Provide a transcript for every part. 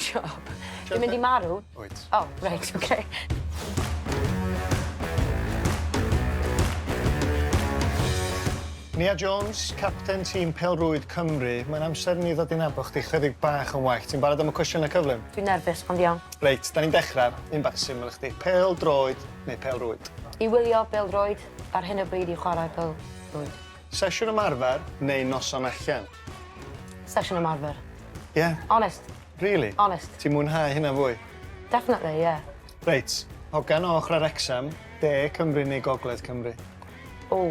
Job. Dwi'n mynd i marw. Wyt. O, reit, oce. Nia Jones, capten tîm pêl-rwyd Cymru, mae'n amser i ni ddod i nabod chdi chydig bach yn well. Ti'n barod am y cwestiynau cyflym? Dwi'n nerfus, ond iawn. Reit, da ni'n dechrau. Un bach syml i chdi. Pêl-droed neu pêl-rwyd? I wylio bêl-droed, ar hyn o bryd i chwarae pêl-rwyd. Sesiwn ymarfer neu noson allan? Sesiwn ymarfer. Ie? Onest. Rili? Onest. Ti'n mwynhau hynna fwy? Definitely, ie. Reit, hogan o ochrau Wrecsam, de Cymru neu gogledd Cymru? O,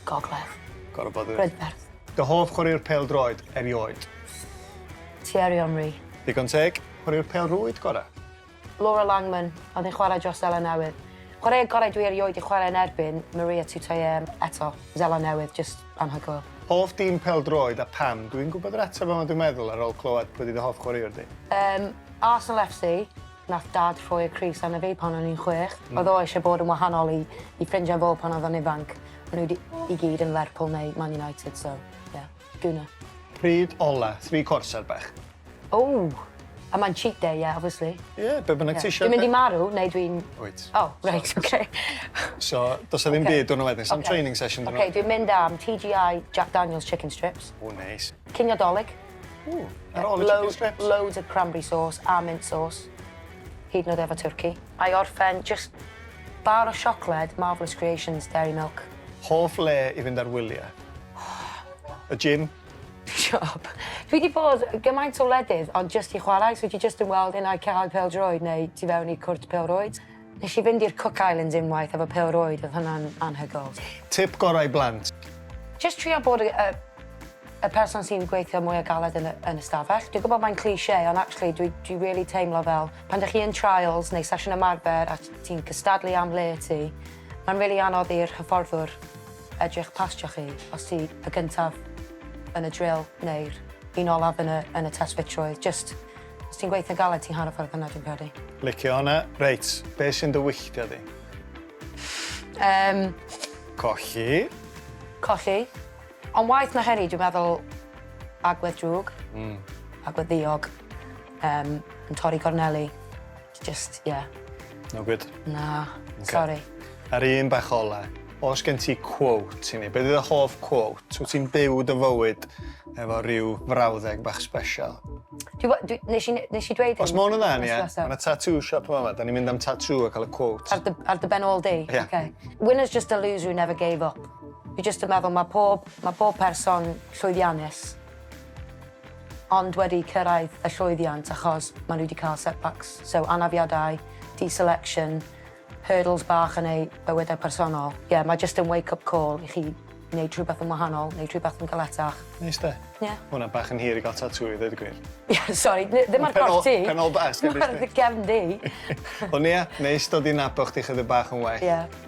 gogledd. Gorfod bod, dwyt. Brydferth. Dy hoff chwaraewr pêl-droed erioed? Thierry Henry. Digon teg. Chwaraewr pêl-rwyd gorau? Laura Langman oedd yn chwarae dros Seland Newydd. Chwaraewr gorau dwi erioed 'di chwarae yn erbyn, Maria Tutoye, eto, Seland Newydd, jyst anhygoel. Hoff dîm pêl-droed a pam? Dwi'n gwybod yr ateb ond dwi'n meddwl ar ôl clywed pwy fydd dy hoff chwaraewr di. Yym, Arsenal FC, nath Dad rhoi'r crys arna fi pan o'n i'n chwech. Oedd o eisiau bod yn wahanol i i ffrindiau fo pan oedd o'n ifanc. O'n nhw di- i gyd yn Lerpwl neu Man United so, ie. Guna. Pryd ola? Three quarters ar bach. Ww! A mae'n cheat day, ie, obviously. Ie, be' bynnag ti isio. Dwi'n mynd i marw neu dwi'n... Wyt. O, reit, oce. So, do's 'na ddim byd diwrnod wedyn, sa'm training session diwrnod wedyn? Oce, dwi'n mynd am TGI Jack Daniel's chicken strips. O, neis. Cinio Dolig. O, ar ôl y chicken strips? Loads of cranberry sauce a mint sauce. Hyd yn oed efo twrci. A i orffen, jyst bar o siocled Marvellous Creations Dairy Milk. Hoff le i fynd ar wyliau? Y gym. Siop. Fi wedi bod gymaint o wledydd ond jyst i chwarae, so ti jyst yn weld un ai cae pêl-droed neu tu fewn i cwrt pêl-rwyd. Nes i fynd i'r Cook Islands unwaith efo pêl-rwyd, oedd hwnna'n anhygoel. Tip gorau i blant? Jyst trio bod y y person sy'n gweithio mwya galed yn y yn y stafell. Dwi'n gwybod mae'n cliché ond actually dwi dwi rili teimlo fel pan dych chi yn trials neu sesiwn ymarfer a ti'n cystadlu am le ti, mae'n rili anodd i'r hyfforddwr edrych pastio chi os ti y gyntaf yn y drill neu'r un olaf yn y yn y test ffitrwydd, jyst os ti'n gweithio'n galed ti'n hanner ffordd yna dwi'n credu. Licio hwnna. Reit, be sy'n dy wylltio di? Yym. Colli. Colli. Ond waeth na hynny dwi'n meddwl agwedd drwg. Mm. Agwedd ddiog. Yym yn torri gorneli. Just, yeah. No good? Na, sori. A'r un bach ola, os gen ti quote i ni, beth yw dy hoff quote? Wyt ti'n byw dy fywyd efo rhyw frawddeg bach special? Nes i dweud hyn? Os mae hwn yn dda, ia. Mae yna tattoo shop yma, yma. Da ni'n mynd am tattoo a cael y quote. Ar dy ben all day? Ie. Okay. Winners just a loser who never gave up. Fi just yn meddwl, mae pob, mae pob person llwyddiannus ond wedi cyrraedd y llwyddiant achos maen nhw wedi cael setbacks, so anafiadau, deselection, hurdles bach yn eu bywydau personol. Ie, yeah, mae jyst yn wake up call i chi wneud rhywbeth yn wahanol, wneud rhywbeth yn galetach. Neis de? Ie. Yeah. Mae hwnna bach yn hir i gael tatŵ i ddweud y gwir. Ie, yeah, sori, ddim ar corff ti. Pen ôl bas, gyda ti. Ar dy gefn di. Ond ie, neis dod i nabod chdi chydig bach yn well. Ie. Yeah.